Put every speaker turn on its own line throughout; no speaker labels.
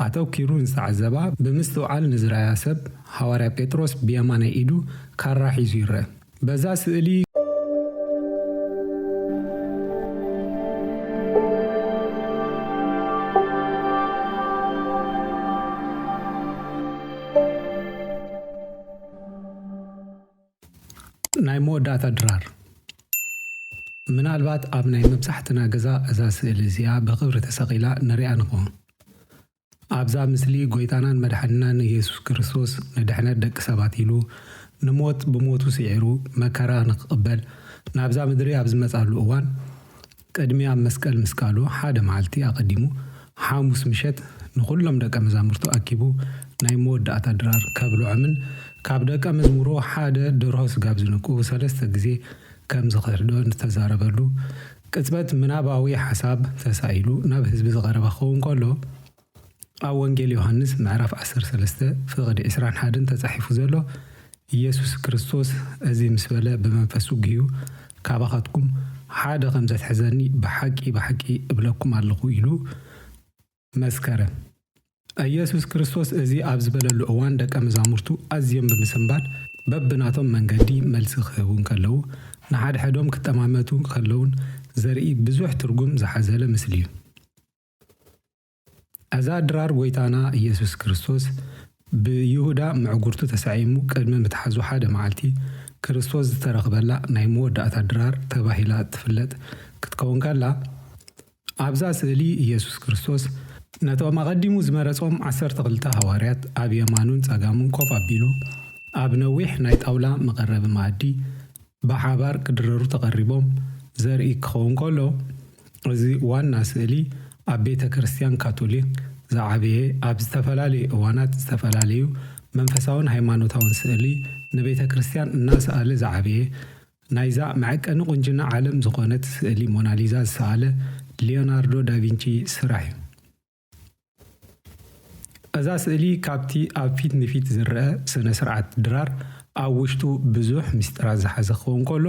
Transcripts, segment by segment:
ኣተኲሩ ዝተዓዘባ ብምስትውዓል ንዝረኣያ ሰብ፣ ሃዋርያ ጴጥሮስ ብየማናይ ኢዱ ካራ ሒዙ ይርአ። በዛ ስእሊ። ናይ መወዳእታ ድራር ምናልባት ኣብ ናይ መብዛሕትና ገዛ እዛ ስእሊ እዚኣ ብኽብሪ ተሰቒላ ንሪኣ ንኸውን። ኣብዛ ምስሊ ጎይታናን መድሓኒናን እየሱስ ክርስቶስ ንድሕነት ደቂ ሰባት ኢሉ ንሞት ብሞቱ ስዒሩ መከራ ንክቕበል ናብዛ ምድሪ ኣብ ዝመጻሉ እዋን፣ ቅድሚ ኣብ መስቀል ምስቃሉ ሓደ መዓልቲ ኣቐዲሙ፣ ሓሙስ ምሸት፣ ንዅሎም ደቀ መዛሙርቱ ኣኪቡ ናይ መወዳእታ ድራር ከብልዖምን ካብ ደቀ መዝሙሩ ሓደ ደርሆ ስጋብ ዝንክኡ ሰለስተ ግዜ ከም ዝኽህዶን ዝተዛረበሉ ቅጽበት ምናባዊ ሓሳብ ተሳኢሉ ናብ ህዝቢ ዝቐረበ ክኸውን ከሎ፣ ኣብ ወንጌል ዮሃንስ ምዕራፍ ዓሰርተ ሰለስተ ፍቕድ ዕስራን ሓደን ተጻሒፉ ዘሎ ኢየሱስ ክርስቶስ እዚ ምስ በለ ብመንፈሱ ግሁ ካባኻትኩም ሓደ ከም ዘትሕዘኒ ብሓቂ ብሓቂ እብለኩም ኣለኹ ኢሉ መስከረ። ኢየሱስ ክርስቶስ እዚ ኣብ ዝበለሉ እዋን ደቀ መዛሙርቱ ኣዝዮም ብምስንባድ በብናቶም መንገዲ መልሲ ክህቡ እንከለዉ ንሓድሕዶም ክጠማመቱ ከለዉን ዘርኢ ብዙሕ ትርጉም ዝሓዘለ ምስሊ'ዩ። እዛ ድራር ጐይታና ኢየሱስ ክርስቶስ ብይሁዳ ምዕጉርቱ ተሳዒሙ ቅድሚ ምትሓዙ ሓደ መዓልቲ ክርስቶስ ዝተረኽበላ ናይ መወዳእታ ድራር ተባሂላ ትፍለጥ ክትከውን ከላ፣ ኣብዛ ስእሊ ኢየሱስ ክርስቶስ ነቶም ኣቐዲሙ ዝመረጾም ዓሰርተ ክልተ ሃዋርያት ኣብ የማኑን ጸጋሙን ኮፍ ኣቢሉ ኣብ ነዊሕ ናይ ጣውላ መቐረቢ መኣዲ ብሓባር ክድረሩ ተቐሪቦም ዘርኢ ክኸውን ከሎ፣ እዚ ዋና ስእሊ ኣብ ቤተ ክርስቲያን ካቶሊክ ዝዓበየ ኣብ ዝተፈላለየ እዋናት ዝተፈላለዩ መንፈሳውን ሃይማኖታውን ስእሊ ንቤተ ክርስቲያን እናሰኣለ ዝዓበየ ናይዛ መዐቀኒ ቁንጅና ዓለም ዝኾነት ስእሊ ሞናሊዛ ዝሰኣለ ሊዮናርዶ ዳቪንቺ ስራሕ'ዩ። እዛ ስእሊ ካብቲ ኣብ ፊት ንፊት ዝረኣ ስነ-ስርዓት ድራር ኣብ ውሽጡ ብዙሕ ምስጢራት ዝሓዘ ክኸውን ከሎ፣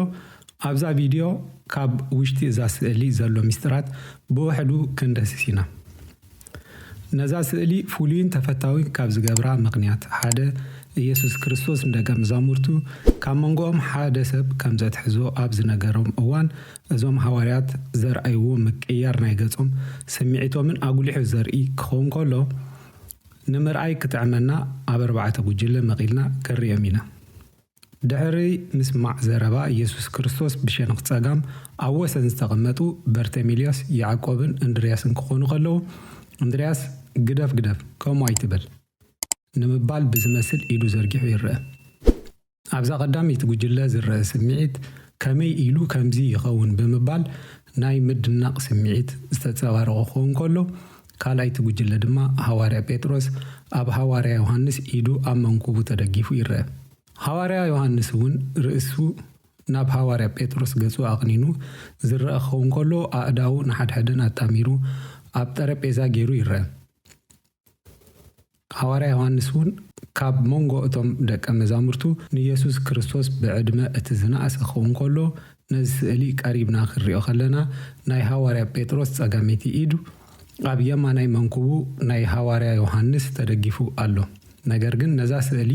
ኣብዛ ቪድዮ ካብ ውሽጢ እዛ ስእሊ ዘሎ ምስጢራት ብውሕዱ ክንድህስስ ኢና። ነዛ ስእሊ ፍሉይን ተፈታዊን ካብ ዝገብራ ምኽንያት ሓደ፣ ኢየሱስ ክርስቶስ ንደቀ መዛሙርቱ ካብ መንጎኦም ሓደ ሰብ ከም ዘትሕዞ ኣብ ዝነገሮም እዋን እዞም ሃዋርያት ዘርኣይዎ ምቅይያር ናይ ገጾም ስምዒቶምን ኣጉሊሑ ዘርኢ ክኸውን ከሎ፣ ንምርኣይ ክጥዕመና ኣብ ኣርባዕተ ጉጅለ መቒልና ክንርእዮም ኢና። ድሕሪ ምስማዕ ዘረባ የሱስ ክርስቶስ ብሸንኽ ጸጋም ኣብ ወሰን ዝተቐመጡ በርተሚልዮስ፣ ያዕቆብን እንድርያስን ክኾኑ ከለዉ፣ እንድርያስ ግደፍ ግደፍ ከምኡ ኣይትበል ንምባል ብዝመስል ኢዱ ዘርጊሑ ይርኣ። ኣብዛ ቀዳመይቲ ጉጅለ ዝረኣ ስምዒት ከመይ ኢሉ ከምዚ ይኸውን ብምባል ናይ ምድናቕ ስምዒት ዝተጸባረቖ ክኸውን ከሎ፣ ካልኣይቲ ጉጅለ ድማ ሃዋርያ ጴጥሮስ ኣብ ሃዋርያ ዮሃንስ ኢዱ ኣብ መንኩቡ ተደጊፉ ይረኣ። ሃዋርያ ዮሃንስ እውን ርእሱ ናብ ሃዋርያ ጴጥሮስ ገጹ ኣቕኒኑ ዝረኣ ክኸውን ከሎ፣ ኣእዳዉ ንሓድሕደን ኣጣሚሩ ኣብ ጠረጴዛ ገይሩ ይረኣ። ሃዋርያ ዮሃንስ እውን ካብ መንጎ እቶም ደቀ መዛሙርቱ ንየሱስ ክርስቶስ ብዕድመ እቲ ዝነኣሰ ክኸውን ከሎ፣ ነዚ ስእሊ ቀሪብና ክንሪኦ ከለና ናይ ሃዋርያ ጴጥሮስ ጸጋመይቲ ኢድ ኣብ የማናይ መንኩቡ ናይ ሃዋርያ ዮሃንስ ተደጊፉ ኣሎ። ነገር ግን ነዛ ስእሊ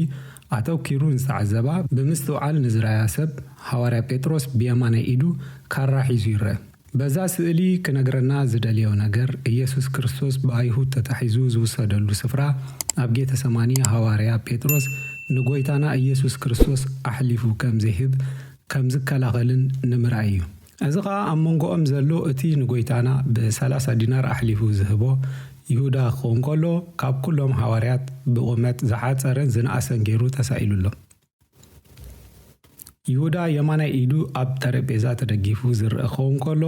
ኣተኪሩ ንዝተዓዘባ ብምስትውዓል ንዝረኣያ ሰብ ሃዋርያ ጴጥሮስ ብየማናይ ኢዱ ካራ ሒዙ ይረኣ። በዛ ስእሊ ክነግረና ዝደልዮ ነገር ኢየሱስ ክርስቶስ ብኣይሁድ ተታሒዙ ዝውሰደሉ ስፍራ ኣብ ጌተሰማኒ ሃዋርያ ጴጥሮስ ንጎይታና ኢየሱስ ክርስቶስ ኣሕሊፉ ከም ዘይህብ ከም ዝከላኸልን ንምርኣይ እዩ። እዚ ኸኣ ኣብ መንጎኦም ዘሎ እቲ ንጎይታና ብሰላሳ ዲናር ኣሕሊፉ ዝህቦ ይሁዳ ክኸውን ከሎ ካብ ኩሎም ሃዋርያት ብቑመት ዝሓጸረን ዝነኣሰን ጌሩ ተሳኢሉ ኣሎ። ይሁዳ የማናይ ኢዱ ኣብ ጠረጴዛ ተደጊፉ ዝርእ ክኸውን ከሎ፣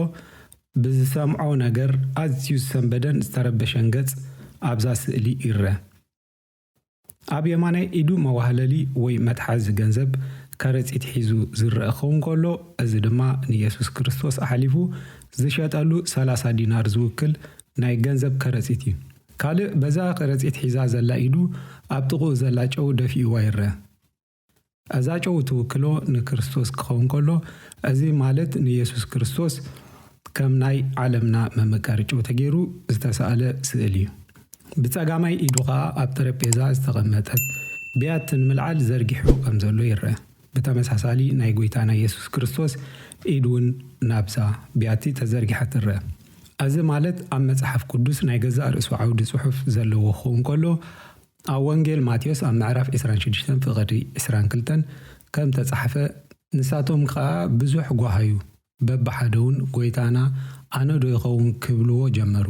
ብዝሰምዖ ነገር ኣዝዩ ዝሰንበደን ዝተረበሸን ገጽ ኣብዛ ስእሊ ይርአ። ኣብ የማናይ ኢዱ መዋህለሊ ወይ መትሓዚ ገንዘብ ከረጺት ሒዙ ዝርእ ክኸውን ከሎ፣ እዚ ድማ ንየሱስ ክርስቶስ ኣሕሊፉ ዝሸጠሉ ሰላሳ ዲናር ዝውክል ናይ ገንዘብ ከረጺት እዩ። ካልእ በዛ ከረጺት ሒዛ ዘላ ኢዱ ኣብ ጥቕኡ ዘላ ጨው ደፊእዋ ይርኣ። እዛ ጨው እትውክሎ ንክርስቶስ ክኸውን ከሎ፣ እዚ ማለት ንየሱስ ክርስቶስ ከም ናይ ዓለምና መመቀሪ ጨው ተገይሩ ዝተሳእለ ስእሊ እዩ። ብጸጋማይ ኢዱ ከኣ ኣብ ጠረጴዛ ዝተቐመጠት ብያቲ ንምልዓል ዘርጊሑ ከም ዘሎ ይርኣ። ብተመሳሳሊ ናይ ጎይታና የሱስ ክርስቶስ ኢድ ውን ናብዛ ብያቲ ተዘርጊሓ ትረኣ። ኣዚ ማለት ኣብ መጽሓፍ ቅዱስ ናይ ገዛእ ርእሱ ዓውዲ ጽሑፍ ዘለዎ ክኸውን ከሎ ኣብ ወንጌል ማቴዎስ ኣብ ምዕራፍ ዕስራን ሽዱሽተን ፍቕዲ ዕስራን ክልተን ከም ተጻሕፈ ንሳቶም ከኣ ብዙሕ ጓሃዩ በብሓደ ውን ጎይታና ኣነዶ ይኸውን ክብልዎ ጀመሩ።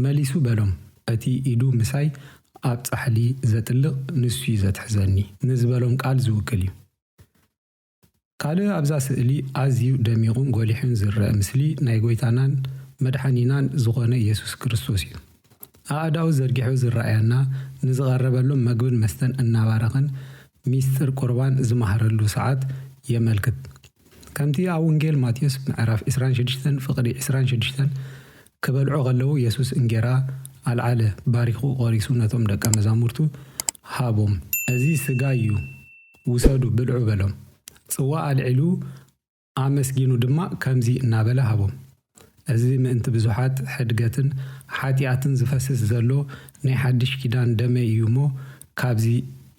መሊሱ በሎም፣ እቲ ኢዱ ምሳይ ኣብ ጻሕሊ ዘጥልቕ ንሱ'ዩ ዘትሕዘኒ ንዝበሎም ቃል ዝውክል እዩ። ካልእ ኣብዛ ስእሊ ኣዝዩ ደሚቑን ጎሊሑን ዝረኣ ምስሊ ናይ ጎይታናን መድሓኒናን ዝኾነ የሱስ ክርስቶስ እዩ። ኣኣዳው ዘርጊሑ ዝረኣያና ንዝቐረበሎም መግብን መስተን እናባረኸን ሚስጢር ቁርባን ዝማሃረሉ ሰዓት የመልክት። ከምቲ ኣብ ውንጌል ማቴዎስ ምዕራፍ ዕስራን ሽዱሽተን ፍቕዲ ዕስራን ሽዱሽተን ክበልዑ ኸለዉ የሱስ እንጌራ ኣልዓለ፣ ባሪኹ ቘሪሱ ነቶም ደቀ መዛሙርቱ ሃቦም። እዚ ስጋይ እዩ፣ ውሰዱ ብልዑ በሎም። ጽዋእ ኣልዒሉ ኣመስጊኑ ድማ ከምዚ እናበለ ሃቦም፣ እዚ ምእንቲ ብዙሓት ሕድገትን ሓጢኣትን ዝፈስስ ዘሎ ናይ ሓድሽ ኪዳን ደመይ እዩ እሞ፣ ካብዚ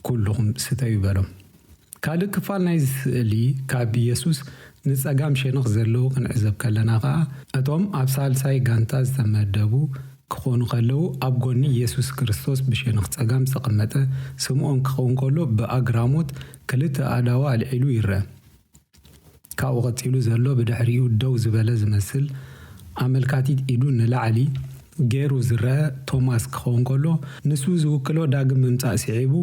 ኵልኹም ስተዩ በሎም። ካልእ ክፋል ናይዚ ስእሊ ካብ የሱስ ንጸጋም ሸነኽ ዘለዉ ክንዕዘብ ከለና ከኣ እቶም ኣብ ሳልሳይ ጋንታ ዝተመደቡ ክኾኑ ከለዉ ኣብ ጎኒ የሱስ ክርስቶስ ብሸነኽ ጸጋም ዝተቐመጠ ስምኦን ክኸውን ከሎ ብኣግራሞት ክልተ ኣእዳዉ ኣልዒሉ ይርኣ። ካብኡ ቀጺሉ ዘሎ ብድሕሪኡ ደው ዝበለ ዝመስል ኣመልካቲት ኢዱ ንላዕሊ ገይሩ ዝርኣ ቶማስ ክኸውን ከሎ ንሱ ዝውክሎ ዳግም ምምጻእ ስዒቡ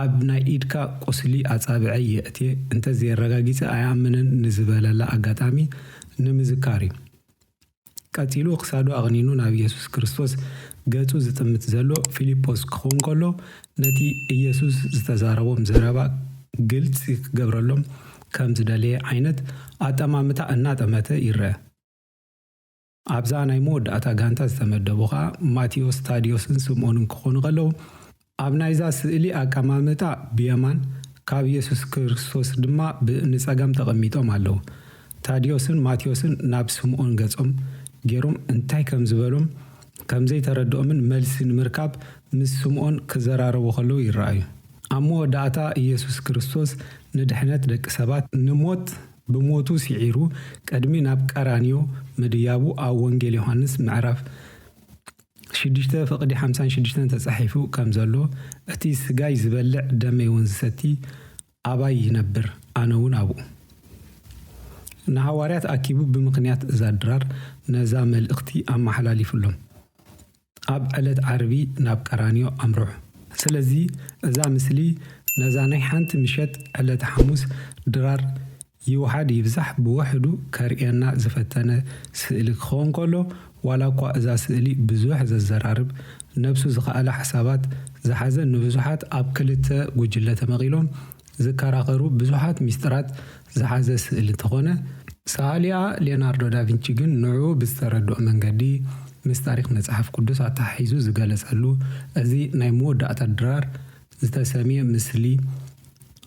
ኣብ ናይ ኢድካ ቁስሊ ኣጻብዐይ የእትየ እንተ ዘየረጋጊጸ ኣይኣምንን ንዝበለላ ኣጋጣሚ ንምዝካር እዩ። ቀጺሉ ክሳዱ ኣቕኒኑ ናብ ኢየሱስ ክርስቶስ ገጹ ዝጥምት ዘሎ ፊልጶስ ክኸውን ከሎ ነቲ ኢየሱስ ዝተዛረቦም ዘረባ ግልጺ ክገብረሎም ከም ዝደለየ ዓይነት ኣጠማምታ እናጠመተ ይረኣ። ኣብዛ ናይ መወዳእታ ጋንታ ዝተመደቡ ከኣ ማቲዮስ፣ ታድዮስን ስምኦንን ክኾኑ ከለዉ፣ ኣብ ናይዛ ስእሊ ኣቀማምጣ ብየማን፣ ካብ የሱስ ክርስቶስ ድማ ብ ንጸጋም ተቐሚጦም ኣለዉ። ታድዮስን ማቲዮስን ናብ ስምኦን ገጾም ጌሮም እንታይ ከም ዝበሎም ከም ዘይተረድኦምን መልሲ ንምርካብ ምስ ስምኦን ክዘራረቡ ከለዉ ይረኣዩ። ኣብ መወዳእታ የሱስ ክርስቶስ ንድሕነት ደቂ ሰባት ንሞት፣ ብሞቱ ሲዒሩ ቀድሚ ናብ ቀራንዮ ምድያቡ ኣብ ወንጌል ዮሃንስ ምዕራፍ ሽዱሽተ ፍቕዲ ሓምሳን ሽዱሽተን ተጻሒፉ ከም ዘሎ እቲ ስጋይ ዝበልዕ ደመይ እውን ዝሰቲ ኣባይ ይነብር ኣነ እውን ኣብኡ ንሃዋርያት ኣኪቡ ብምኽንያት እዛ ድራር ነዛ መልእኽቲ ኣመሓላሊፉሎም። ኣብ ዕለት ዓርቢ ናብ ቀራንዮ ኣምርሑ። ስለዚ እዛ ምስሊ ነዛ ናይ ሓንቲ ምሸት ዕለተ ሓሙስ ድራር ይውሓድ ይብዛሕ ብውሕዱ ከርእየና ዝፈተነ ስእሊ ክኸውን ከሎ ዋላ እኳ እዛ ስእሊ ብዙሕ ዘዘራርብ ነብሱ ዝኸኣለ ሓሳባት ዝሓዘ ንብዙሓት ኣብ ክልተ ጉጅለ ተመቒሎም ዝከራኸሩ ብዙሓት ሚስጥራት ዝሓዘ ስእሊ እንተኾነ፣ ሰኣሊኣ ሌናርዶ ዳቪንቺ ግን ንዕኡ ብዝተረድኦ መንገዲ ምስ ታሪኽ መጽሓፍ ቅዱስ ኣተሓሒዙ ዝገለጸሉ እዚ ናይ መወዳእታ ድራር ዝተሰምየ ምስሊ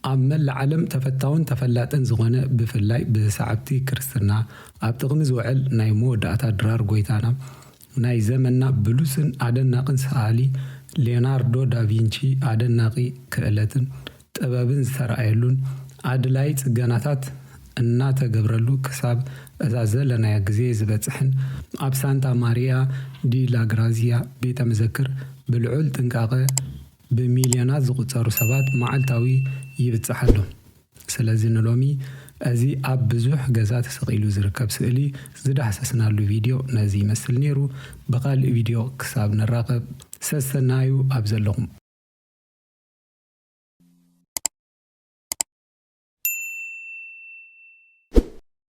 ኣብ መላእ ዓለም ተፈታውን ተፈላጥን ዝኾነ ብፍላይ ብሰዓብቲ ክርስትና ኣብ ጥቕሚ ዝውዕል ናይ መወዳእታ ድራር ጎይታና ናይ ዘመንና ብሉጽን ኣደናቕን ሰኣሊ ሌዮናርዶ ዳቪንቺ ኣደናቂ ክእለትን ጥበብን ዝተራእየሉን ኣድላዪ ጽገናታት እናተገብረሉ ክሳብ እዛ ዘለናያ ግዜ ዝበጽሕን ኣብ ሳንታ ማሪያ ዲ ላ ግራዚያ ቤተ መዘክር ብልዑል ጥንቃቐ ብሚልዮናት ዝቑጸሩ ሰባት መዓልታዊ ይብጻሕ ኣሎ። ስለዚ ንሎሚ እዚ ኣብ ብዙሕ ገዛ ተሰቒሉ ዝርከብ ስእሊ ዝዳህሰስናሉ ቪድዮ ነዚ ይመስል ኔሩ። ብኻልእ ቪድዮ ክሳብ ንራኸብ ሰሰናዩ ኣብ ዘለኹም።